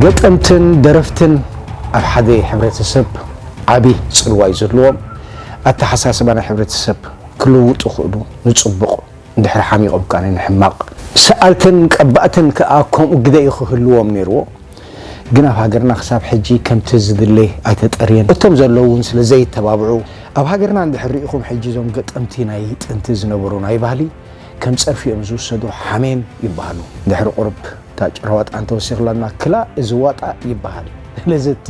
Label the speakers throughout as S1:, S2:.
S1: ገጠምትን ደረፍትን ኣብ ሓደ ሕብረተሰብ ዓቢ ጽልዋ እዩ ዘለዎም። ኣተሓሳስባ ናይ ሕብረተሰብ ክልውጡ ይኽእሉ፣ ንጽቡቕ እንድሕሪ ሓሚቖም ከኣ ንሕማቕ። ሰኣልትን ቀባእትን ከኣ ከምኡ ግደ እዩ ክህልዎም ነይርዎ። ግን ኣብ ሃገርና ክሳብ ሕጂ ከምቲ ዝድለ ኣይተጠርየን። እቶም ዘለዉ እውን ስለ ዘይተባብዑ። ኣብ ሃገርና እንድሕሪ ርኢኹም ሕጂ እዞም ገጠምቲ ናይ ጥንቲ ዝነበሩ ናይ ባህሊ። ከም ጸርፊ እዮም ዝውሰዱ ሓሜም ይበሃሉ ድሕሪ ቁርብ እታ ጭራ ዋጣ እንተወሲኽላና ክላ እዚ ዋጣ ይበሃል ስለዚ እቲ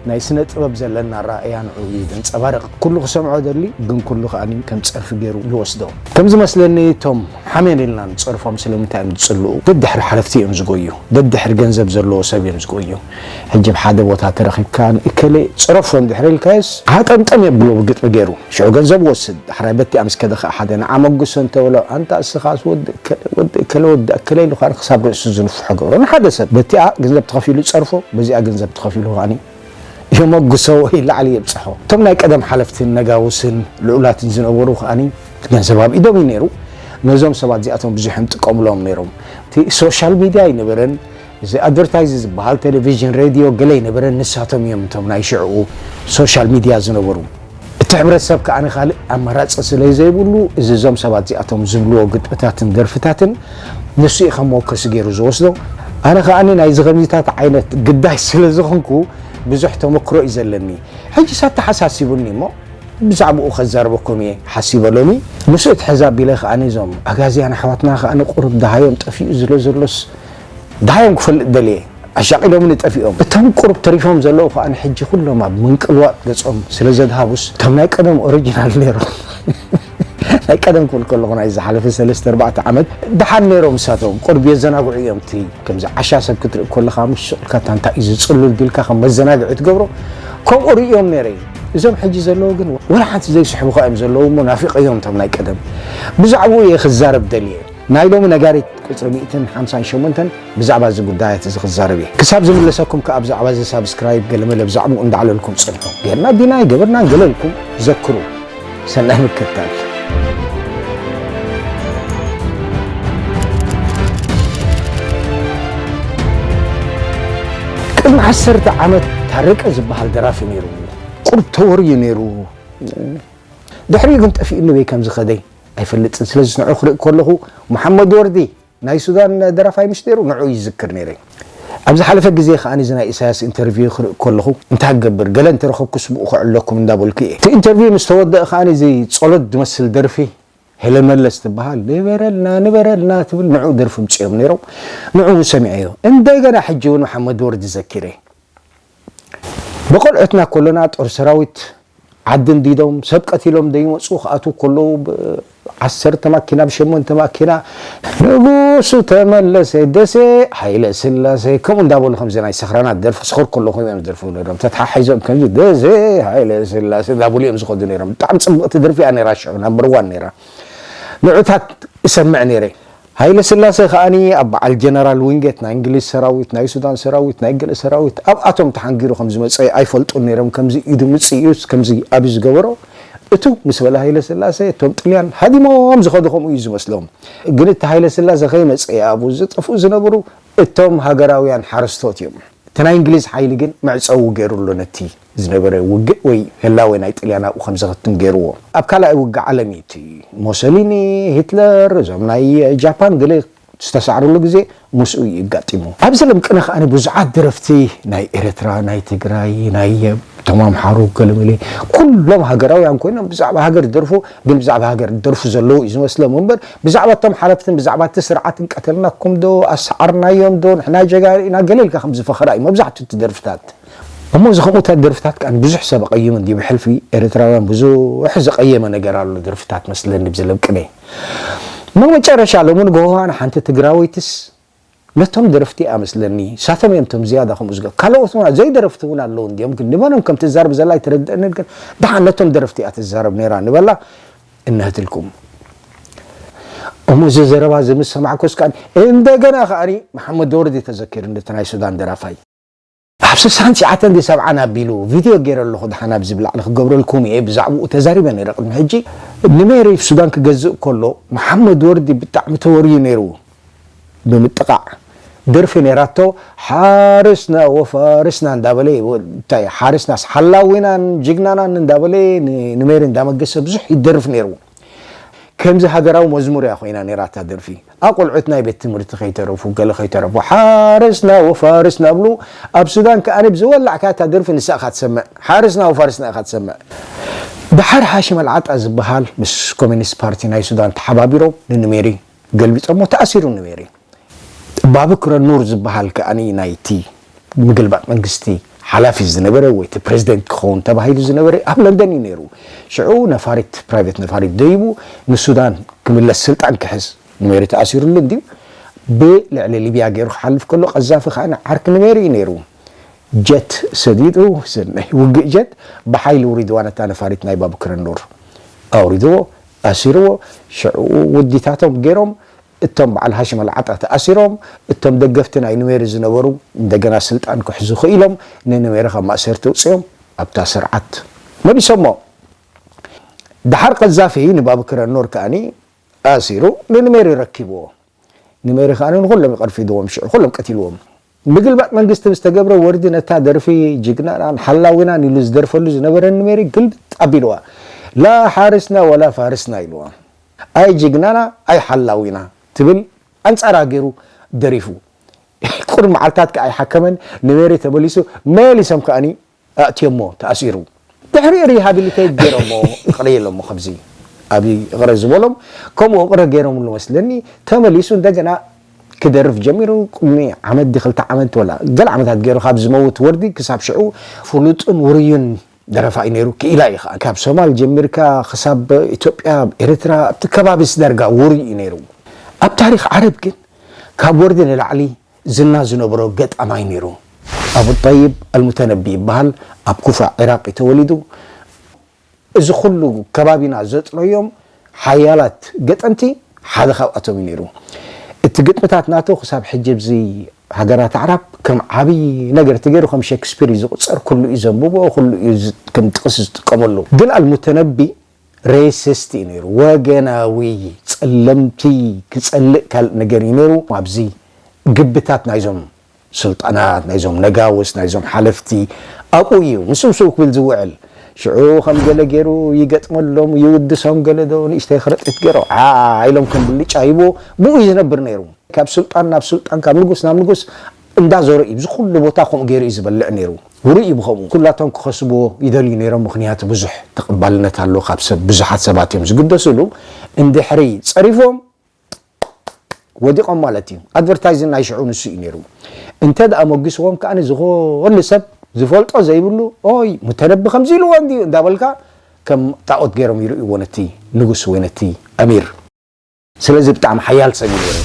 S1: ናይ ስነ ጥበብ ዘለና ኣረኣእያ ንዕኡ እዩ ዘንጸባርቕ ኩሉ ክሰምዖ ደሊ ግን ኩሉ ከኣ ከም ጸርፊ ገይሩ ይወስዶ ከም ዝመስለኒ እቶም ሓሜን ኢልና ንጸርፎም ስለምንታይ እዮም ዝጽልኡ ደድሕሪ ሓለፍቲ እዮም ዝጎዩ ደድሕሪ ገንዘብ ዘለዎ ሰብ እዮም ዝጎዩ ሕጂ ኣብ ሓደ ቦታ ተረኺብካ ንእከለ ጽረፎ እንድሕር ኢልካዮስ ሃጠምጠም የብሎ ብግጥሚ ጌሩ። ሽዑ ገንዘብ ይወስድ። ዳሕራይ በቲኣ ምስ ከደ ከኣ ሓደ ንዓ መጉሶ እንተ በሎ ኣንታ እስኻስ ወዲ እከለ ወዲ እከለ ወዲ ኣከለ ኢሉ ከኣ ክሳብ ርእሱ ዝንፍሖ ገብሮ። ንሓደ ሰብ በቲኣ ገንዘብ ተኸፊሉ ይጸርፎ በዚኣ ገንዘብ ተኸፊሉ ከኣ የመጉሶ ወይ ላዕሊ የብጽሖ። እቶም ናይ ቀደም ሓለፍትን ነጋውስን ልኡላትን ዝነበሩ ከኣ ገንዘብ ኣብ ኢዶም እዩ ኔሩ። ነዞም ሰባት እዚኣቶም ብዙሕ እዮም ዝጥቀሙሎም ኔሮም። እቲ ሶሻል ሚድያ ኣይነበረን። እዚ ኣድቨርታይዝ ዝበሃል ቴሌቪዥን ሬድዮ ገለ ኣይነበረን ንሳቶም እዮም እቶም ናይ ሽዕኡ ሶሻል ሚድያ ዝነበሩ እቲ ሕብረተሰብ ከኣ ካልእ ኣማራጺ ስለ ዘይብሉ እዚ እዞም ሰባት እዚኣቶም ዝብልዎ ግጥምታትን ደርፍታትን ንሱ እዩ ከም መወከሲ ገይሩ ዝወስዶ ኣነ ከኣ ናይዚ ከምዚታት ዓይነት ግዳይ ስለ ዝኾንኩ ብዙሕ ተመክሮ እዩ ዘለኒ ሕጅስ ኣተሓሳሲቡኒ እሞ ብዛዕባኡ ከዛርበኩም እየ ሓሲበ ሎሚ ምስ እትሕዝ ኣቢለ ከኣ እዞም ኣጋዝያን ኣሕዋትና ከኣ ቁሩብ ደሃዮም ጠፊኡ ዝለ ዘሎስ ደሃዮም ክፈልጥ ደልየ ኣሻቒሎምኒ ጠፊኦም። እቶም ቁሩብ ተሪፎም ዘለዉ ከኣ ሕጂ ኩሎም ኣብ ምንቅልዋጥ ገጾም ስለ ዘድሃቡስ ከም ናይ ቀደም ኦሪጅናል ኔሮም ናይ ቀደም ክብል ከለኹ ናይ ዝሓለፈ ሰለስተ ኣርባዕተ ዓመት ደሓን ኔሮም ንሳቶም ቁሩብ የዘናግዑ እዮም እቲ ከምዚ ዓሻ ሰብ ክትርኢ ከለኻ ምሽ ሱቕ ኢልካ እታ እንታይ እዩ ዝጽሉል ቢልካ ከም መዘናግዒ ትገብሮ ከምኡ ርእዮም ኔረ እዞም ሕጂ ዘለዉ ግን ወላ ሓንቲ ዘይስሕቡኻ እዮም ዘለዉ እሞ ናፊቐዮም እቶም ናይ ቀደም ብዛዕብኡ እየ ክዛረብ ደልየ። ናይ ሎሚ ነጋሪት ቁጽሪ ሚእትን ሓምሳን ሸሞንተን ብዛዕባ እዚ ጉዳያት እዚ ክዛረብ እየ። ክሳብ ዝምለሰኩም ከኣ ብዛዕባ እዚ ሳብስክራይብ ገለመለ ብዛዕብኡ እንዳዕለልኩም ጽንሑ። ጌርና ዲና ኣይገበርናን ገለ ኢልኩም ዘክሩ። ሰናይ ምክትታል። ቅድሚ ዓሰርተ ዓመት ታረቀ ዝበሃል ደራፊ ነይሩ። ቁሩብ ተወርዩ ነይሩ። ድሕሪኡ ግን ጠፊኡኒ በይ ከም ዝኸደይ። ኣይፈልጥን ስለዝስ ንዑ ክርኢ ከለኹ መሓመድ ወርዲ ናይ ሱዳን ደራፋይ ምሽ ነይሩ ንዑ ይዝክር ነይረ ኣብ ዝሓለፈ ግዜ ከኣ እዚ ናይ ኢሳያስ ኢንተርቪው ክርኢ ከለኹ እንታይ ክገብር ገለ እንተረኸብኩ ስብኡ ከዕለኩም እንዳበልኩ እየ እቲ ኢንተርቪው ምስ ተወደእ ከኣ እዚ ጸሎት ዝመስል ደርፊ ሄለን መለስ ትበሃል ንበረልና ንበረልና ትብል ንዑ ደርፊ ምጽኦም ነይሮም ንዑ ሰሚዐዮ እንደገና ሕጂ እውን መሓመድ ወርዲ ዘኪረ ብቆልዑትና ከሎና ጦር ሰራዊት ዓዲ እንዲዶም ሰብ ቀቲሎም ደይመጹ ክኣትዉ ከለዉ ብ ዓሰርተ ማኪና ብ ሸሞንተ ማኪና ንጉሱ ተመለሰ ደሴ ሃይለስላሴ ከምኡ እንዳበሉ ከምዚ ናይ ሰኽራናት ደርፊ ክሰኽሩ ከለኹ እዮም ዝደርፍዎ ነይሮም ተተሓሒዞም ከምዚ ደሴ ሃይለስላሴ እንዳበሉ እዮም ዝኸዱ ነይሮም ብጣዕሚ ጽብቕቲ ደርፊ እያ ነይራ ሽዑ ናምበር ዋን ነይራ ንዑታት እሰምዕ ነይረ ሃይለስላሰ ከኣ ኣብ በዓል ጀነራል ዊንጌት ናይ እንግሊዝ ሰራዊት፣ ናይ ሱዳን ሰራዊት፣ ናይ ገለ ሰራዊት ኣብኣቶም ተሓንጊሩ ከም ዝመጸ ኣይፈልጡን ነይሮም ከምዚ ኢዱ ምጽ ኢዩ ከምዚ ኣብዩ ዝገበሮ እትው ምስ በለ ሃይለስላሰ እቶም ጥልያን ሃዲሞም ዝኸዱ ከምኡ ኢዩ ዝመስሎም ግን እቲ ሃይለስላሰ ከይመጸ ኣብኡ ዝጠፍኡ ዝነበሩ እቶም ሃገራውያን ሓረስቶት ኢዮም እቲ ናይ እንግሊዝ ሓይሊ ግን መዕጸዊ ገይሩሉ ነቲ ዝነበረ ውግእ ወይ ህላዌ ናይ ጥልያን ኣብኡ ከም ዘኽትም ገይርዎ። ኣብ ካልኣይ ውግእ ዓለም እዩ እቲ ሞሶሊኒ፣ ሂትለር፣ እዞም ናይ ጃፓን ገለ ዝተሳዕርሉ ግዜ ምስኡ እዩ እጋጢሙ። ኣብዚ ለም ቅነ ከኣ ብዙሓት ደረፍቲ ናይ ኤረትራ፣ ናይ ትግራይ፣ ናይ እቶም ኣምሓሩ ገለመለ ኩሎም ሃገራውያን ኮይኖም ብዛዕባ ሃገር ዝደርፉ ግን ብዛዕባ ሃገር ዝደርፉ ዘለዉ እዩ ዝመስሎም እምበር ብዛዕባ እቶም ሓለፍትን ብዛዕባ እቲ ስርዓትን ቀተልናኩም ዶ ኣሰዓርናዮም ዶ ንሕና ጀጋኑ ኢና ገለ ኢልካ ከም ዝፈኸራ እዩ መብዛሕትኡ እቲ ደርፍታት እሞ እዚ ከምኡ ታይ ደርፍታት ከኣ ንብዙሕ ሰብ ኣቀይሙ እንድዩ ብሕልፊ ኤረትራውያን ብዙሕ ዘቀየመ ነገር ኣሎ ደርፍታት መስለኒ ብዝለቅኔ እሞ መጨረሻ ሎሚ ንግሆ ከኣ ሓንቲ ትግራወይትስ ነቶም ደረፍቲ እያ መስለኒ ሳቶም እዮም ቶም ዝያዳ ከምኡ ዝገ ካልኦት ውን ዘይ ደረፍቲ እውን ኣለዉ እንዲዮም ግን ንበሎም ከም ትዛረብ ዘላ ኣይተረድእንን ግን ድሓን ነቶም ደረፍቲ እያ ትዛረብ ነይራ ንበላ እነህትልኩም እሞ እዚ ዘረባ እዚ ምስ ሰማዕኩስ ከኣ እንደገና ከኣ መሓመድ ወርዲ ተዘኪርኒ እቲ ናይ ሱዳን ደራፋይ ኣብ ስሳን ትሽዓተን ድዩ ሰብዓን ኣቢሉ ቪድዮ ጌረ ኣለኹ ደሓን ኣብዚ ብላዕሊ ክገብረልኩም እየ ብዛዕብኡ ተዛሪበ ነይረ ቅድሚ ሕጂ ንሜሪ ብ ሱዳን ክገዝእ ከሎ መሓመድ ወርዲ ብጣዕሚ ተወርዩ ነይሩ ብምጥቓዕ ደርፊ ነይራቶ ሓርስና ወፋርስና እንዳበለ እንታይ ሓርስናስ ሓላዊናን ጅግናናን እንዳበለ ንሜሪ እንዳመገሰ ብዙሕ ይደርፍ ነይሩ ከምዚ ሃገራዊ መዝሙር እያ ኮይና ነይራ እታ ደርፊ ኣብ ቆልዑት ናይ ቤት ትምህርቲ ከይተረፉ ገለ ከይተረፉ ሓረስና ወፋርስና ብሉ ኣብ ሱዳን ከኣ ብዝወላዕ ከኣ እታ ደርፊ ንሳ ኢኻ ትሰምዕ ሓረስና ወፋርስና ኢኻ ትሰምዕ ደሓር ሓሽም ኣልዓጣ ዝብሃል ምስ ኮሚኒስት ፓርቲ ናይ ሱዳን ተሓባቢሮም ንኑሜሪ ገልቢጸሞ ተኣሲሩ ነበረ። ባበክረ ኑር ዝበሃል ከኣ ናይቲ ምግልባጥ መንግስቲ ሓላፊ ዝነበረ ወይ እቲ ፕረዚደንት ክኸውን ተባሂሉ ዝነበረ ኣብ ለንደን እዩ ነይሩ። ሽዑ ነፋሪት ፕራይቨት ነፋሪት ደይቡ ንሱዳን ክምለስ ስልጣን ክሕዝ ኑሜሪ ተኣሲሩሉ እንድዩ ብልዕሊ ሊብያ ገይሩ ክሓልፍ ከሎ ቀዛፊ ከኣ ዓርኪ ኑሜሪ እዩ ነይሩ። ጀት ሰዲዱ ናይ ውግእ ጀት ብሓይሊ ውሪድዋ ነታ ነፋሪት ናይ ባብክረ ኑር ኣውሪድዎ። ኣሲርዎ ሽዕኡ ውዲታቶም ጌሮም እቶም በዓል ሃሽም ኣልዓጣ ተኣሲሮም እቶም ደገፍቲ ናይ ኑዌሪ ዝነበሩ እንደገና ስልጣን ክሕዙ ክኢሎም ንኑዌሪ ካብ ማእሰርቲ ኣውጺኦም ኣብታ ስርዓት መሊሶሞ ደሓር ቀዛፊ ንባብክር ኣኖር ከኣ ኣሲሩ ንኑሜሪ ረኪብዎ ኑሜሪ ከኣ ንኹሎም ይቐርፊድዎም ሽዑ ኩሎም ቀቲልዎም ምግልባጥ መንግስቲ ብዝተገብረ ወርዲ ነታ ደርፊ ጅግናናን ሓላዊናን ኢሉ ዝደርፈሉ ዝነበረ ንሜሪ ግልብጥ ኣቢልዋ ላ ሓርስና ወላ ፋርስና ኢልዋ ኣይ ጅግናና ኣይ ሓላዊና ትብል ኣንጻራ ጌሩ ደሪፉ ቁሩብ መዓልታት ከኣ ኣይሓከመን ንሜሪ ተመሊሱ መሊሶም ከኣ ኣእትዮሞ ተኣሲሩ ድሕሪኡ ሪሃቢሊተይት ገይሮሞ እቕረ ኢሎሞ ከምዚ ኣብይ እቕረ ዝበሎም ከምኡ እቕረ ገይሮምሉ መስለኒ ተመሊሱ እንደገና ክደርፍ ጀሚሩ ቅድሚ ዓመት ዲ ክልተ ዓመት ወላ ገለ ዓመታት ገይሩ ካብ ዝመውት ወርዲ ክሳብ ሽዑ ፍሉጥን ውሩይን ደረፋይ ነይሩ ክኢላ እዩ ከኣ ካብ ሶማል ጀሚርካ ክሳብ ኢትዮጵያ ኣብ ኤርትራ ኣብቲ ከባቢስ ዳርጋ ውሩይ እዩ ነይሩ ኣብ ታሪኽ ዓረብ ግን ካብ ወርዲ ንላዕሊ ዝና ዝነበሮ ገጣማይ ነይሩ። ኣቡ ጠይብ ኣልሙተነቢ ይበሃል። ኣብ ኩፋ ዒራቕ እዩ ተወሊዱ። እዚ ኩሉ ከባቢና ዘጥረዮም ሓያላት ገጠምቲ ሓደ ካብኣቶም እዩ ነይሩ። እቲ ግጥምታት ናቱ ክሳብ ሕጂ ኣብዚ ሃገራት ኣዕራብ ከም ዓብዪ ነገር ተገይሩ ከም ሸክስፒር እዩ ዝቑጸር። ኩሉ እዩ ዘንብቦ፣ ኩሉ እዩ ከም ጥቕሲ ዝጥቀመሉ። ግን ኣልሙተነቢ ሬሲስት እዩ ነይሩ ወገናዊ ጸለምቲ ክጸልእ ካልእ ነገር እዩ ነይሩ ኣብዚ ግብታት ናይዞም ስልጣናት ናይዞም ነጋውስ ናይዞም ሓለፍቲ ኣብኡ እዩ ምስ ምስኡ ክብል ዝውዕል ሽዑ ከም ገለ ገይሩ ይገጥመሎም ይውድሶም ገለ ዶ ንእሽተይ ክርጢት ገይሮ ዓዓ ኢሎም ከም ብልጫ ይብዎ ብኡ እዩ ዝነብር ነይሩ ካብ ስልጣን ናብ ስልጣን ካብ ንጉስ ናብ ንጉስ እንዳ ዘሩ ኢዩ ዝኩሉ ቦታ ከምኡ ገሩ ኢዩ ዝበልዕ ነሩ ውሩይ ኢዩ ብከምኡ ኩላቶም ክከስብዎ ይደልዩ ነሮም ምክንያቱ ብዙሕ ተቀባልነት ኣለዎ ካብ ሰብ ብዙሓት ሰባት ኢዮም ዝግደስሉ እንድሕሪ ጸሪፎም ወዲቆም ማለት ኢዩ ኣድቨርታይዝ ናይ ሽዑ ንሱ ኢዩ ነሩ እንተ ኣሞጊስዎም ከኣ ዝኩሉ ሰብ ዝፈልጦ ዘይብሉ ኦይ ሙተነቢ ከምዚ ኢልዎ እንድዩ እንዳበልካ ከም ጣኦት ገሮም ይርእይዎ ነቲ ንጉስ ወይ ነቲ ኣሚር ስለዚ ብጣዕሚ ሓያል ሰብ ኢዩ ነሩ።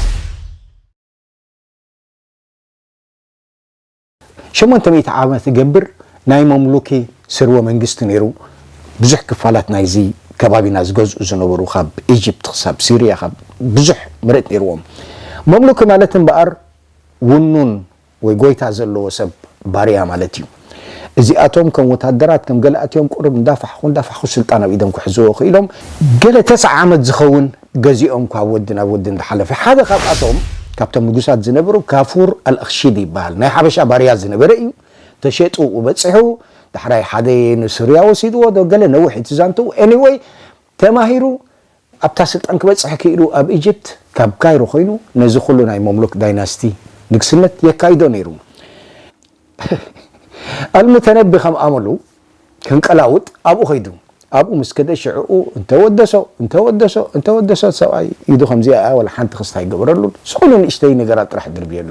S1: ሸሞንተ ሚእቲ ዓመት ዝገብር ናይ መምሉኪ ስርወ መንግስቲ ነይሩ። ብዙሕ ክፋላት ናይዚ ከባቢና ዝገዝኡ ዝነበሩ ካብ ኢጅፕት ክሳብ ሲርያ ካብ ብዙሕ መሬት ነይርዎም። መምሉኪ ማለት እምበኣር ውኑን ወይ ጎይታ ዘለዎ ሰብ፣ ባርያ፣ ማለት እዩ። እዚኣቶም ከም ወታደራት ከም ገላእቲዮም ቁሩብ እንዳፋሕኹ እንዳፋሕኹ ስልጣን ኣብ ኢዶም ክሕዝዎ ክኢሎም። ገለ ተስዓ ዓመት ዝኸውን ገዚኦም ካብ ወዲ ናብ ወዲ እንዳሓለፈ ሓደ ካብኣቶም ካብቶም ንጉሳት ዝነበሩ ካፉር ኣልኣኽሺዲ ይበሃል ናይ ሓበሻ ባርያ ዝነበረ ኢዩ ተሸጡ ኣብኡ በጺሑ ዳሕራይ ሓደ ንሱርያ ወሲድዎ ዶ ገለ ነዊሕ ኢዩ እቲ ዛንትኡ ኤኒወይ ተማሂሩ ኣብታ ስልጣን ክበጽሕ ክኢሉ ኣብ ኢጅፕት ካብ ካይሮ ኮይኑ ነዚ ኩሉ ናይ መምሉክ ዳይናስቲ ንግስነት የካይዶ ነይሩ። ኣልሙተነቢ ከም ኣመሉ ክንቀላውጥ ኣብኡ ከይዱ። ኣብኡ ምስ ከደ ሽዕኡ እንተ ወደሶ እንተ ወደሶ እንተ ወደሶ እቲ ሰብኣይ ኢዱ ከምዚኣ ኢያ ወላ ሓንቲ ክስታ ኣይገበረሉን ዝኹሉ ንእሽተይ ነገራት ጥራሕ ድርብየሉ።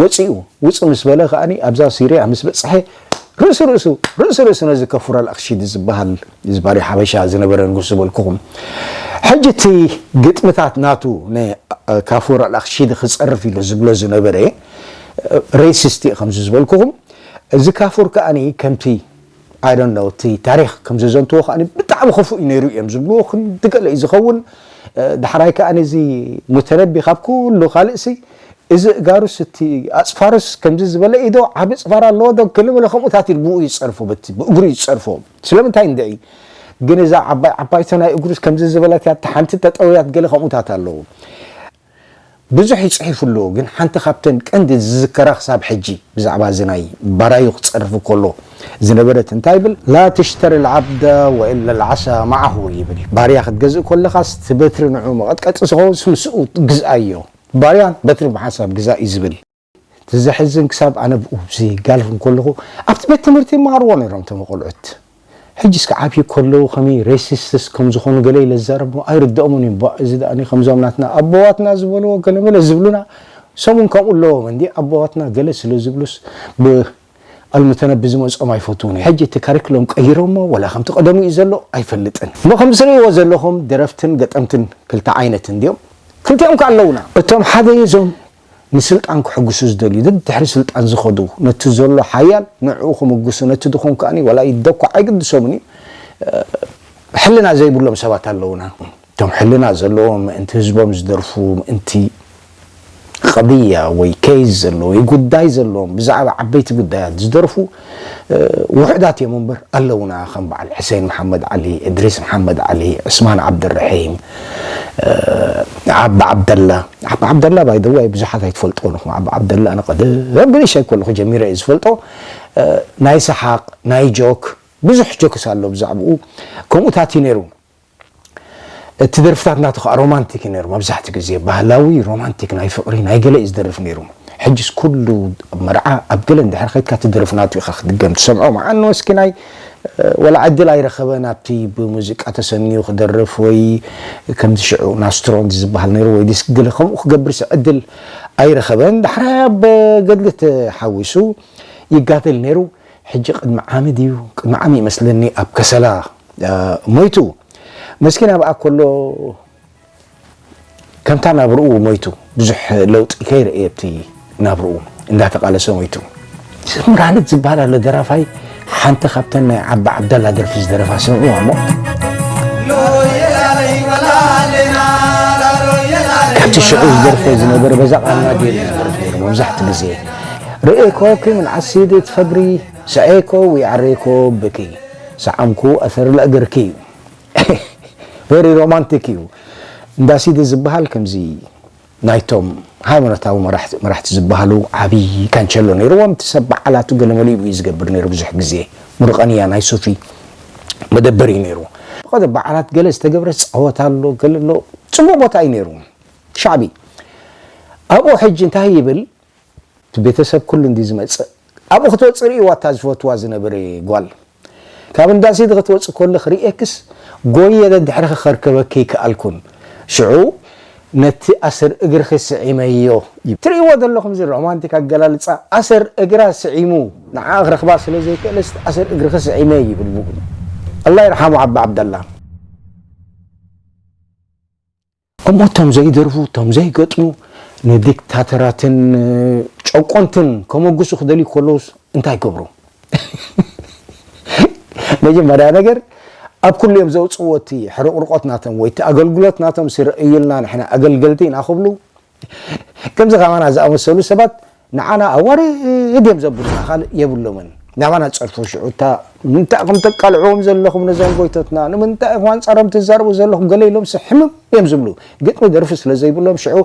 S1: ወጺኡ ውጽእ ምስ በለ ከኣ ኣብዛ ሲርያ ምስ በጽሐ ርእሲ ርእሱ ርእሲ ርእሱ ነዚ ከፉር ኣልኣክሺዲ ዝበሃል ዝባሪ ሓበሻ ዝነበረ ንጉስ ዝበልኩኹም ሕጂ እቲ ግጥምታት ናቱ ንካፉር ኣልኣክሺዲ ክጸርፍ ኢሉ ዝብሎ ዝነበረ ሬሲስት እዩ ከምዚ ዝበልኩኹም እዚ ካፉር ከኣ ከምቲ I don't know እቲ ታሪኽ ከም ዘዘንትዎ ከኣ ብጣዕሚ ክፉእ እዩ ነይሩ እዮም ዝብልዎ ክንዲ ገለ እዩ ዝኸውን ዳሕራይ ከኣ እዚ ሙተነቢ ካብ ኩሉ ካልእሲ እዚ እጋሩስ እቲ ኣጽፋሩስ ከምዚ ዝበለ እዩ ዶ ዓቢ ጽፋር ኣለዎ ዶ ገለ መለ ከምኡታት ኢሉ ብኡ እዩ ዝጸርፎ በቲ ብእግሩ እዩ ዝጸርፎ ስለምንታይ እንድዒ ግን እዛ ዓባይ ዓባይቶ ናይ እግሩስ ከምዚ ዝበለት እያ እታ ሓንቲ ጠጠው እያት ገለ ከምኡታት ኣለዉ ብዙሕ እዩ ጽሒፉ ኣሎ ግን ሓንቲ ካብተን ቀንዲ ዝዝከራ ክሳብ ሕጂ ብዛዕባ እዚ ናይ ባራዩ ክጸርፍ ከሎ ዝነበረት እንታይ ይብል ላ ተሽተሪ ልዓብደ ወኢላ ልዓሳ መዓሁ ይብል እዩ ባርያ ክትገዝእ ከለኻስ እቲ በትሪ ንዕኡ መቐጥቀጢ ዝኸውን ምስ ምስኡ ግዝኣዮ ባርያ በትሪ ብሓንሳብ ግዛእ እዩ ዝብል እቲ ዘሕዝን ክሳብ ኣነ ኡብዚ ጋልፍ እንኮለኹ ኣብቲ ቤት ትምህርቲ ይማሃርዎ ነይሮም እቶም ቆልዑት ሕጅስ ከ ዓብዩ ከለዉ ከመይ ሬሲስትስ ከም ዝኾኑ ገለ ኢለ ዝዛረቦ ኣይርደኦሙን እዩ ባእ እዚ ደኣኒ ከምዞም ናትና ኣቦዋትና ዝበልዎ ገለ መለ ዝብሉና ሰሙን ከምኡ ኣለዎም እንዲ ኣቦዋትና ገለ ስለ ዝብሉስ ብ ኣልምተነቢ ዝመጾም ኣይፈትዉን እዩ ሕጂ እቲ ካሪክሎም ቀይሮሞ ወላ ከምቲ ቀደሙ እዩ ዘሎ ኣይፈልጥን እሞ ከምዚ ትርእይዎ ዘለኹም ደረፍትን ገጠምትን ክልተ ዓይነት እንድዮም ክልቲኦም ከ ኣለዉና እቶም ሓደ እዞም ንስልጣን ክሕጉሱ ዝደልዩ ደድሕሪ ስልጣን ዝኸዱ ነቲ ዘሎ ሓያል ንዕኡ ክምጉሱ ነቲ ድኹም ከኣ ዋላ ይደኳዕ ኣይግድሶምን እዩ ሕልና ዘይብሎም ሰባት ኣለዉና እቶም ሕልና ዘለዎም ምእንቲ ህዝቦም ዝደርፉ ምእንቲ ቐድያ ወይ ኬዝ ዘለዎ ወይ ጉዳይ ዘለዎም ብዛዕባ ዓበይቲ ጉዳያት ዝደርፉ ውሑዳት እዮም እምበር ኣለውና ከም በዓል ሕሴን መሓመድ ዓሊ፣ እድሪስ መሓመድ ዓሊ፣ ዑስማን ዓብደልርሒም፣ ዓቢ ዓብደላ። ዓቢ ዓብደላ ባይ ዘ ወይ ብዙሓት ኣይትፈልጥዎን ኢኹም። ዓቢ ዓብደላ ኣነ ቀደም ብንእሽተይ ከለኹ ጀሚረ እየ ዝፈልጦ። ናይ ሰሓቕ ናይ ጆክ ብዙሕ ጆክስ ኣሎ ብዛዕብኡ ከምኡታት እዩ ነይሩ። እቲ ደርፍታት ናቱ ከኣ ሮማንቲክ እዩ ነይሩ መብዛሕትኡ ግዜ ባህላዊ ሮማንቲክ ናይ ፍቅሪ ናይ ገለ እዩ ዝደርፍ ነይሩ ሕጅስ ኩሉ ኣብ መርዓ ኣብ ገለ እንድሕር ከድካ እቲ ደርፊ ናቱ ኢካ ክትድገም ትሰምዖ መዓ እኖ እስኪ ናይ ወላ ዕድል ኣይረኸበን ኣብቲ ብሙዚቃ ተሰንዩ ክደርፍ ወይ ከምዚ ሽዑ ናስትሮንት ዝበሃል ነይሩ ወይ ዲስክ ገለ ከምኡ ክገብርሲ ዕድል ኣይረኸበን ዳሕራይ ኣብ ገድሊ ተሓዊሱ ይጋደል ነይሩ ሕጂ ቅድሚ ዓሚ ድዩ ቅድሚ ዓሚ ይመስለኒ ኣብ ከሰላ ሞይቱ መስኪን ኣብኣ ከሎ ከምታ ናብርኡ ሞይቱ ብዙሕ ለውጢ ከይረእየ ኣብቲ ናብርኡ እንዳተቃለሰ ሞይቱ ስምራልት ዝበሃል ኣሎ ደራፋይ ሓንቲ ካብተን ናይ ዓባ ዓብዳላ ደርፊ ዝደረፋ ስምዑ ኣሞ ካብቲ ሽዑ ዝደርፈ ዝነበረ በዛ ቃልና ገይሩ ዝደርፍ ነይሩ መብዛሕቲ ግዜ ርኤኮ ክም ዓሲድ ትፈግሪ ሰዔኮ ዊዓሬኮ ብኪ ሰዓምኩ ኣሰር ለእግርኪ ቨሪ ሮማንቲክ እዩ እንዳ ሲዲ ዝብሃል ከምዚ ናይቶም ሃይማኖታዊ መራሕቲ ዝበሃሉ ዓብዪ ካንቸሎ ነይርዎም እቲ ሰብ በዓላቱ ገለ መሊኡ እዩ ዝገብር ነይሩ ብዙሕ ግዜ ሙርቐንያ ናይ ሱፊ መደበር እዩ ነይሩ ብቐደ በዓላት ገለ ዝተገብረ ጸወታ ኣሎ ገለ ኣሎ ጽቡቕ ቦታ እዩ ነይሩ ሻዕቢ ኣብኡ ሕጂ እንታይ ይብል እቲ ቤተሰብ ኩሉ እንድዩ ዝመጽእ ኣብኡ ክትወጽእ ርእይዋ እታ ዝፈትዋ ዝነበረ ጓል ካብ እንዳ ሲዲ ክትወጽእ ከለኽ ርእየክስ ጎይየ ደድሕርኺ ከርከበኪ ኣይከኣልኩን ሽዑ ነቲ ኣሰር እግርኺ ስዒመዮ ትርእይዎ ዘለኹም እዚ ሮማንቲክ ኣገላልጻ ኣሰር እግራ ስዒሙ ንዓኣ ክረኽባ ስለ ዘይከእለስ እቲ ኣሰር እግርኺ ስዒመ ይብል ብኡ ኣላ ይርሓሙ ዓቢ ዓብደላ። ከምኡ እቶም ዘይደርፉ እቶም ዘይገጥሙ ንዲክታተራትን ጨቆንትን ከመጉሱ ክደልዩ ከለውስ እንታይ ገብሩ መጀመርያ ነገር ኣብ ኩሉ እዮም ዘውጽዎ እቲ ሕርቕርቆት ናቶም ወይ እቲ ኣገልግሎት ናቶም ስረእዩልና ንሕና ኣገልገልቲ ኢና ክብሉ ከምዚ ከማና ዝኣመሰሉ ሰባት ንዓና ኣዋርድ እዮም ዘብሉና ካልእ የብሎምን። ናባና ጸርፉ ሽዑ እታ ንምንታይ ኢኹም ተቃልዕዎም ዘለኹም ነዞም ጎይቶትና ንምንታይ ኢኹም ኣንጻሮም ትዛረቡ ዘለኹም ገለ ኢሎምሲ ሕምም እዮም ዝብሉ ግጥሚ ደርፊ ስለ ዘይብሎም ሽዑ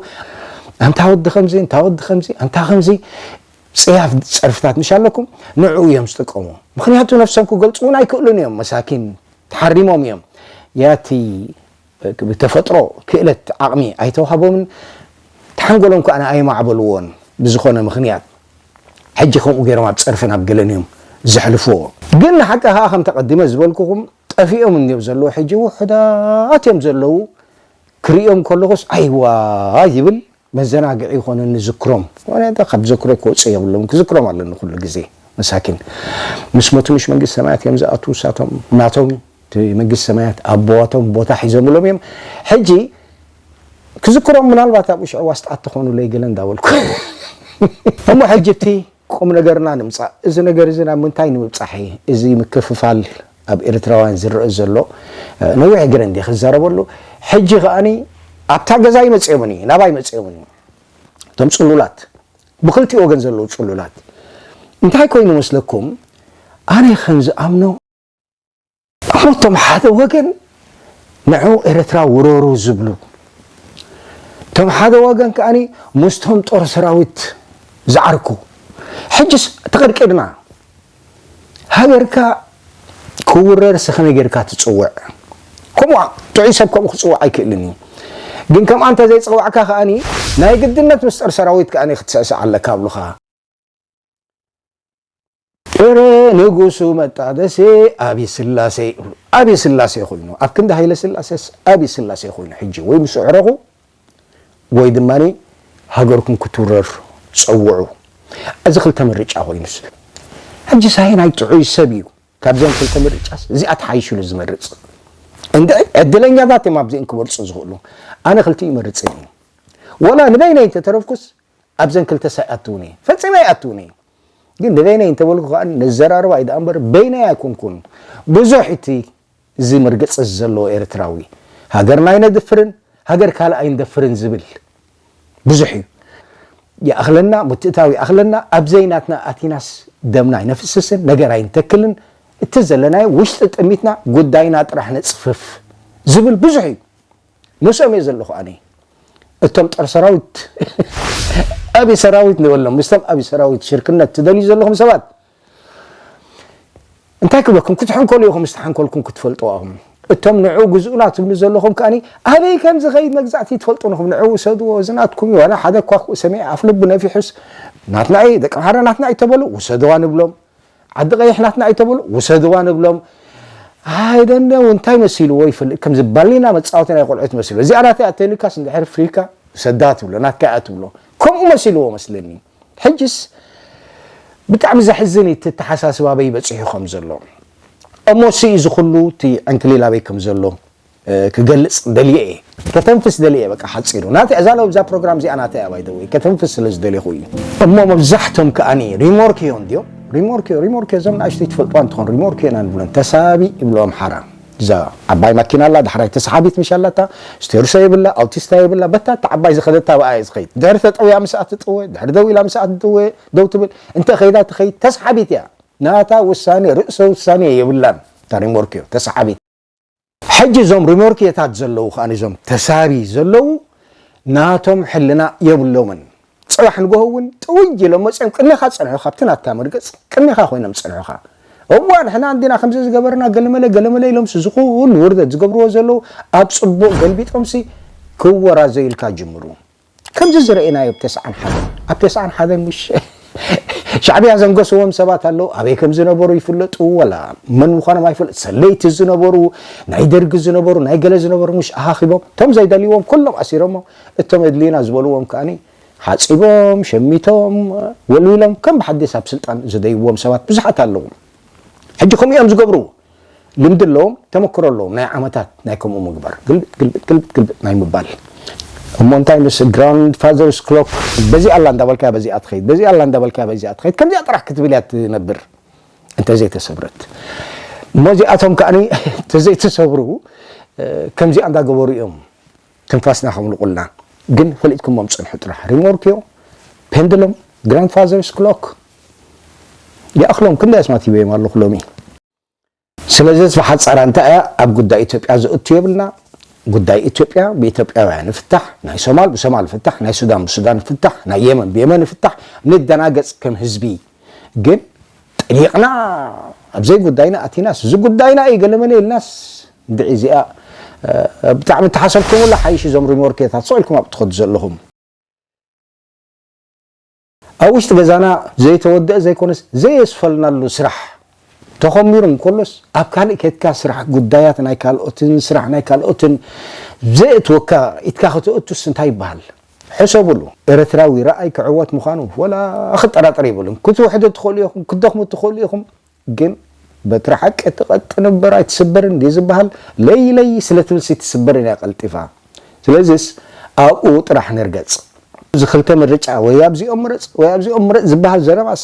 S1: ኣንታ ወዲ ከምዚ እንታ ወዲ ከምዚ ኣንታ ከምዚ ጽያፍ ጸርፍታት ምሽ ኣለኩም ንዕኡ እዮም ዝጥቀሙ ምክንያቱ ነፍሶም ክገልጹ እውን ኣይክእሉን እዮም መሳኪን ተሓሪሞም እዮም ያቲ ብተፈጥሮ ክእለት ዓቕሚ ኣይተዋህቦምን፣ ሓንጎሎም ከኣ ኣየማዕበልዎን፣ ብዝኾነ ምኽንያት ሕጂ ከምኡ ገይሮም ኣብ ጸርፍን ኣብ ገለን እዮም ዘሕልፍዎ። ግን ንሓቂ ከኣ ከምቲ ኣቐዲመ ዝበልኩኹም ጠፊኦም እንድዮም ዘለዉ፣ ሕጂ ውሑዳት እዮም ዘለዉ፣ ክርእዮም ከለኹስ ኣይዋይ ይብል፣ መዘናግዒ ይኾነኒ ዝክሮም ምክንያቱ ካብ ዘክሮ ክወፁ የብሎም ክዝክሮም ኣለኒ ኩሉ ግዜ መሳኪን ምስ ሞቱ ምሽ መንግስቲ ሰማያት እዮም ዝኣትዉ እሳቶም ናቶም እቲ መንግስቲ ሰማያት ኣቦዋቶም ቦታ ሒዞምሎም እዮም ሕጂ ክዝክሮም ምናልባት ኣብኡ ሽዑ ዋስጣት ተኾኑለይ ገለ እንዳበልኩ እሞ ሕጂ እቲ ቁም ነገርና ንምጻእ እዚ ነገር እዚ ናብ ምንታይ ንምብጻሕ ኢዩ እዚ ምክፍፋል ኣብ ኤርትራውያን ዝረኣ ዘሎ ነዊሕ ግረ እንዲየ ክዛረበሉ ሕጂ ከኣ ኣብታ ገዛ ኣይመጽኦምን ኢዩ ናባይ መጽኦምን ኢዩ እቶም ጽሉላት ብክልቲኡ ወገን ዘለዉ ጽሉላት እንታይ ኮይኑ መስለኩም ኣነ ከም ዝኣምኖ እቶም ሓደ ወገን ንዑ ኤርትራ ውረሩ ዝብሉ እቶም ሓደ ወገን ከኣ ምስቶም ጦር ሰራዊት ዝዓርኩ ሕጅስ ተቐድቂድና ሃገርካ ክውረር ሰኸመይ ጌርካ ትጽውዕ ከምኡ ጥዑይ ሰብ ከምኡ ክጽውዕ ኣይክእልን እዩ ግን ከምኣ እንተ ዘይጸዋዕካ ከኣ ናይ ግድነት ምስ ጦር ሰራዊት ከኣ ክትስዕስዕ ኣለካ ኣብሉኻ ጥረ ንጉሱ መጣደሴ ኣብይ ስላሴ ይብሉ ኣብይ ስላሴ ኮይኑ ኣብ ክንዲ ሃይለ ስላሴስ ኣብይ ስላሴ ኮይኑ ሕጂ ወይ ምስ ኣዕረኹ ወይ ድማ ሃገርኩም ክትውረር ፀውዑ እዚ ክልተ ምርጫ ኮይኑስ ሕጂ ሳይናይ ጥዑይ ሰብ እዩ ካብዘን ክልተ ምርጫስ እዚኣ ተሓይሽሉ ዝመርፅ እንደ ዕድለኛታት እዮም ኣብዚኦም ክመርፁ ዝኽእሉ ኣነ ክልቲኡ ይመርፅን እዩ ወላ ንበይነይ እንተተረፍኩስ ኣብዘን ክልተ ሳይ ኣትውን እየ ፈጺመ ኣይኣትውን እየ ግን ንበይነይ እንተበልኩ ከኣ ነዘራርባ እዩ ደኣ እምበር በይነይ ኣይኮንኩን ብዙሕ እቲ እዚ መርገጺ እዚ ዘለዎ ኤርትራዊ ሃገርና ኣይነድፍርን ሃገር ካልእ ኣይንደፍርን ዝብል ብዙሕ እዩ ይኣኽለና ምትእታው ይኣኽለና ኣብዘይ ናትና ኣቲናስ ደምና ኣይነፍስስን ነገር ኣይንተክልን እቲ ዘለናዮ ውሽጢ ጥሚትና ጉዳይና ጥራሕ ነፅፍፍ ዝብል ብዙሕ እዩ ምስኦም እየ ዘለኹ ኣነ እቶም ጦር ሰራዊት ኣብይ ሰራዊት ንበሎም ምስቶም ኣብይ ሰራዊት ሽርክነት ትደልዩ ዘለኹም ሰባት እንታይ ክብለኩም ክትሕንከሉ ኢኹም ምስ ተሓንከልኩም ክትፈልጡ ኣኹም እቶም ንዑ ግዝኡና ትብሉ ዘለኹም ከኣ ኣበይ ከም ዝኸይድ መግዛእቲ ትፈልጡ ንኹም ንዑ ውሰድዎ እዚ ናትኩም እዩ ዋላ ሓደ እኳ ሰሚዐ ኣፍልቡ ነፊሑስ ናትና እዩ ደቂ ምሓረ ናትና እዩ ተበሉ ውሰድዋ ንብሎም ዓዲ ቀይሕ ናትና ኣይተብሉ ውሰድዋ ንብሎም I don't know እንታይ መሲልዎ ይፍልጥ ከምዚ ባሊና መጻወቲ ናይ ቆልዑት መሲልዎ እዚኣ ናተይ እያ ተልካስ እንድሕር ፍሪካ ውሰዳ ትብሎ ናትካ እያ ትብሎ ከምኡ መሲልዎ መስለኒ ሕጅስ ብጣዕሚ ዘሕዝን እዩ እቲ ኣተሓሳስባ ኣበይ በፂሑ ከም ዘሎ እሞ ስኢ ዝኩሉ እቲ ዕንክሊል ኣበይ ከም ዘሎ ክገልጽ ደልየ እየ ከተንፍስ ደልየ እየ በቃ ሓጺሩ ናተይ ኣዛለወ ብዛ ፕሮግራም እዚኣ ናተይ ኣባይ ደወይ ከተንፍስ ስለ ዝደልኹ እዩ እሞ መብዛሕቶም ከኣኒ ሪሞርክዮ እንድዮም ሪሞርክዮ ሪሞርክዮ እዞም ንኣሽተይ ትፈልጥዋ እንትኾን ሪሞርክዮ ኢና ንብለን ተሳቢ ይብሎ ኣምሓራ እዛ ዓባይ ማኪና ኣላ ዳሕራይ ተሰሓቢት ምሽ ኣላታ ስቴርሶ የብላ ኣውቲስታ የብላ በታ እታ ዓባይ ዝኸደታ ብኣ እየ ዝኸይድ ድሕሪ ተጠውያ ምስኣ ትጥወ ድሕሪ ደው ኢላ ምስኣ ትጥወ ደው ትብል እንተ ከይዳ ትኸይድ ተሰሓቢት እያ ናታ ውሳኔ ርእሰ ውሳኔ የብላን እታ ሪሞርክዮ ተሰሓቢት ሕጂ እዞም ሪሞርክየታት ዘለዉ ከኣ እዞም ተሳቢ ዘለዉ ናቶም ሕልና የብሎምን ጽባሕ ንጎሆ እውን ጥውይ ኢሎም መጽኦም ቅድሜኻ ዝጸንሑ ካብቲ ናትካ መርገጽ ቅድሜኻ ኮይኖም ዝጸንሑኻ እዋ ንሕና እንዲና ከምዚ ዝገበርና ገለመለ ገለመለ ኢሎምሲ ዝኹሉ ውርደት ዝገብርዎ ዘለዉ ኣብ ጽቡቕ ገልቢጦምሲ ክወራዘዩልካ ጅምሩ ከምዚ ዝረኤናዮ ብ ተስዓን ሓደን ኣብ ተስዓን ሓደን ሙሽ ሻዕብያ ዘንገስዎም ሰባት ኣለው ኣበይ ከም ዝነበሩ ይፍለጡ ወላ መን ምዃኖም ኣይፍለጥ ሰለይቲ ዝነበሩ ናይ ደርጊ ዝነበሩ ናይ ገለ ዝነበሩ ሙሽ ኣኻኺቦም እቶም ዘይደልይዎም ኩሎም ኣሲሮሞ እቶም የድልዩና ዝበልዎም ከኣኒ ሓጺቦም ሸሚቶም ወልዊሎም ከም ብሓዲስ ኣብ ስልጣን ዝደይብዎም ሰባት ብዙሓት ኣለው ሕጂ ከምኡ እዮም ዝገብሩ ልምዲ ኣለዎም ተመክሮ ኣለዎም ናይ ዓመታት ናይ ከምኡ ምግባር ግልብጥ ግልብጥ ግልብጥ ግልብጥ ናይ ምባል እሞ እንታይ ምስ ግራንድ ፋዘርስ ክሎክ በዚኣ ኣላ እንዳበልካያ በዚኣ ትኸይድ በዚኣ ኣላ እንዳበልካያ በዚኣ ትኸይድ ከምዚኣ ጥራሕ ክትብል እያ ትነብር እንተዘይተሰብረት እሞ እዚኣቶም ከዓኒ እንተዘይተሰብሩ ከምዚኣ እንዳገበሩ እዮም ትንፋስና ከምልቑልና ግን ፈሊጥኩሞም ጽንሑ ጥራሕ ሪሞርክዮ ፔንድሎም ግራንድ ፋዘርስ ክሎክ ይኣኽሎም ክንደይ ኣስማት ሂበዮም ኣለኹ ሎሚ ስለዚስ ብሓጻራ እንታይ እያ ኣብ ጉዳይ ኢትዮጵያ ዘእቱ የብልና ጉዳይ ኢትዮጵያ ብኢትዮጵያውያን ይፍታሕ ናይ ሶማል ብሶማል ይፍታሕ ናይ ሱዳን ብሱዳን ይፍታሕ ናይ የመን ብየመን ይፍታሕ ንደናገጽ ከም ህዝቢ ግን ጠሊቕና ኣብ ዘይጉዳይና ኣቲናስ እዚ ጉዳይና እዩ ገለመለ ኢልናስ እንድዒ እዚኣ ብጣዕሚ እተሓሰብኩምላ ሓይሽ እዞም ሪሞርኬታት ስቕ ኢልኩም ኣብ እትኸዱ ዘለኹም ኣብ ውሽጢ ገዛና ዘይተወድአ ዘይኮነስ ዘየስፈልናሉ ስራሕ ተኾሚሩ እንከሎስ ኣብ ካልእ ከድካ ስራሕ ጉዳያት ናይ ካልኦትን ስራሕ ናይ ካልኦትን ዘየእትወካ ኢድካ ከተእቱስ እንታይ ይበሃል ሕሰብሉ። ኤረትራዊ ራኣይ ክዕወት ምዃኑ ወላ ክጠራጠር የብሉን ክትውሕዱ ትኽእሉ ኢኹም ክትደኽሙ ትኽእሉ ኢኹም ግን በትሪ ሓቂ ትቐጥን እምበር ኣይትስበርን ድዩ ዝበሃል ለይ ለይ ስለ ትብልሲ ትስበርን እያ ቀልጢፋ ስለዚስ ኣብኡ ጥራሕ ንርገጽ። እዚ ክልተ ምርጫ ወይ ኣብዚኦም ምረጽ ወይ ኣብዚኦም ምረጽ ዝበሃል ዘረባስ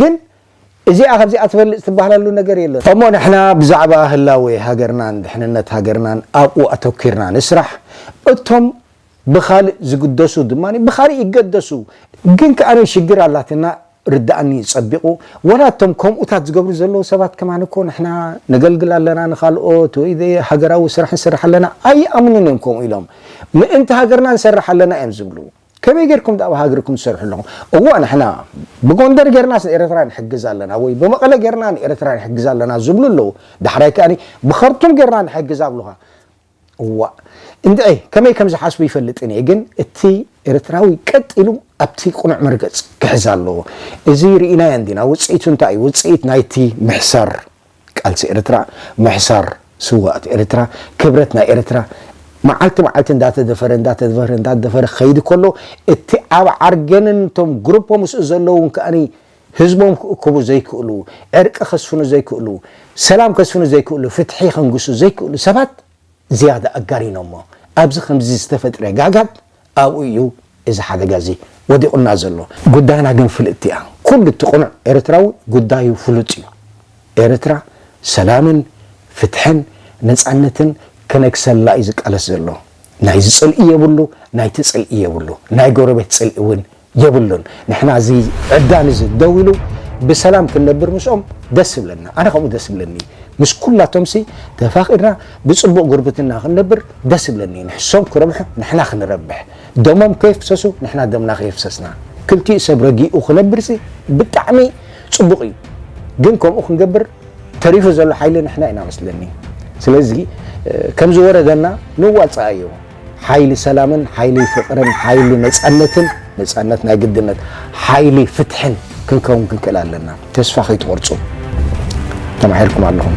S1: ግን እዚኣ ካብዚኣ ትበልጽ ትበሃለሉ ነገር የሎን። እሞ ንሕና ብዛዕባ ህላዌ ሃገርናን ድሕንነት ሃገርናን ኣብኡ ኣተኲርና ንስራሕ፣ እቶም ብኻልእ ዝግደሱ ድማ ብኻልእ ይገደሱ። ግን ከኣ ሽግር ኣላትና ርደኣኒ ጸቢቑ፣ ዋላ እቶም ከምኡታት ዝገብሩ ዘለዉ ሰባት ከማን እኮ ንሕና ነገልግል ኣለና ንኻልኦት ወይ ድ ሃገራዊ ስራሕ ንሰርሕ ኣለና ኣይኣምኑን እዮም ከምኡ ኢሎም ምእንቲ ሃገርና ንሰርሕ ኣለና እዮም ዝብሉ። ከመይ ጌርኩም ዳኣ ኣብ ሃግርኩም ትሰርሑ ኣለኹም እወ ንሕና ብጎንደር ጌርናስ ንኤረትራ ንሕግዝ ኣለና ወይ ብመቐለ ጌርና ንኤረትራ ንሕግዝ ኣለና ዝብሉ ኣለዉ ዳሕራይ ከኣ ብኸርቱም ጌርና ንሕግዝ ኣብሉኻ እዋእ እንድዒ ከመይ ከም ዝሓስቡ ይፈልጥን እየ ግን እቲ ኤርትራዊ ቀጥ ኢሉ ኣብቲ ቅኑዕ መርገጽ ክሕዝ ኣለዎ እዚ ርኢናዮ እንዲና ውጽኢቱ እንታይ እዩ ውጽኢት ናይቲ ምሕሳር ቃልሲ ኤርትራ፣ ምሕሳር ስውኣት ኤርትራ፣ ክብረት ናይ ኤርትራ መዓልቲ መዓልቲ እንዳተደፈረ እንዳተደፈረ እንዳተደፈረ ክኸይድ ከሎ እቲ ኣብ ዓርገንን እቶም ግሩፖ ምስኡ ዘለዉን ከኣ ህዝቦም ክእክቡ ዘይክእሉ፣ ዕርቂ ከስፍኑ ዘይክእሉ፣ ሰላም ከስፍኑ ዘይክእሉ፣ ፍትሒ ከንግሱ ዘይክእሉ ሰባት፣ ዝያዳ ኣጋኒኖሞ። ኣብዚ ከምዚ ዝተፈጥረ ጋጋብ ኣብኡ እዩ እዚ ሓደጋ እዚ ወዲቑና ዘሎ። ጉዳይና ግን ፍልጥቲ እያ። ኩሉ እቲ ቅኑዕ ኤርትራዊ ጉዳዩ ፍሉጥ እዩ። ኤርትራ ሰላምን ፍትሕን ነጻነትን ክነግሰላ እዩ ዝቃለስ ዘሎ። ናይዚ ጽልኢ የብሉ ናይቲ ጽልኢ የብሉ ናይ ጎረቤት ጽልኢ እውን የብሉን ንሕና እዚ ዕብዳን እዚ ደው ኢሉ ብሰላም ክንነብር ምስኦም ደስ ይብለና ኣነ ከምኡ ደስ ይብለኒ ምስ ኩላቶምሲ ተፋቂርና ብፅቡቅ ጉርብትና ክንነብር ደስ ይብለኒ ንሕሶም ክረብሑ ንሕና ክንረብሕ ደሞም ከየፍሰሱ ንሕና ደምና ከየፍሰስና ክልቲኡ ሰብ ረጊኡ ክነብርሲ ብጣዕሚ ፅቡቅ እዩ ግን ከምኡ ክንገብር ተሪፉ ዘሎ ሓይሊ ንሕና ኢና መስለኒ ስለዚ ከምዝወረደና ንዋፅኣዮ ሓይሊ ሰላምን ሓይሊ ፍቅርን ሓይሊ ነፃነትን ነፃነት ናይ ግድነት ሓይሊ ፍትሕን ክንከውን ክንክእል ኣለና ተስፋ ከይትቆርፁ ተማሂርኩም ኣለኹም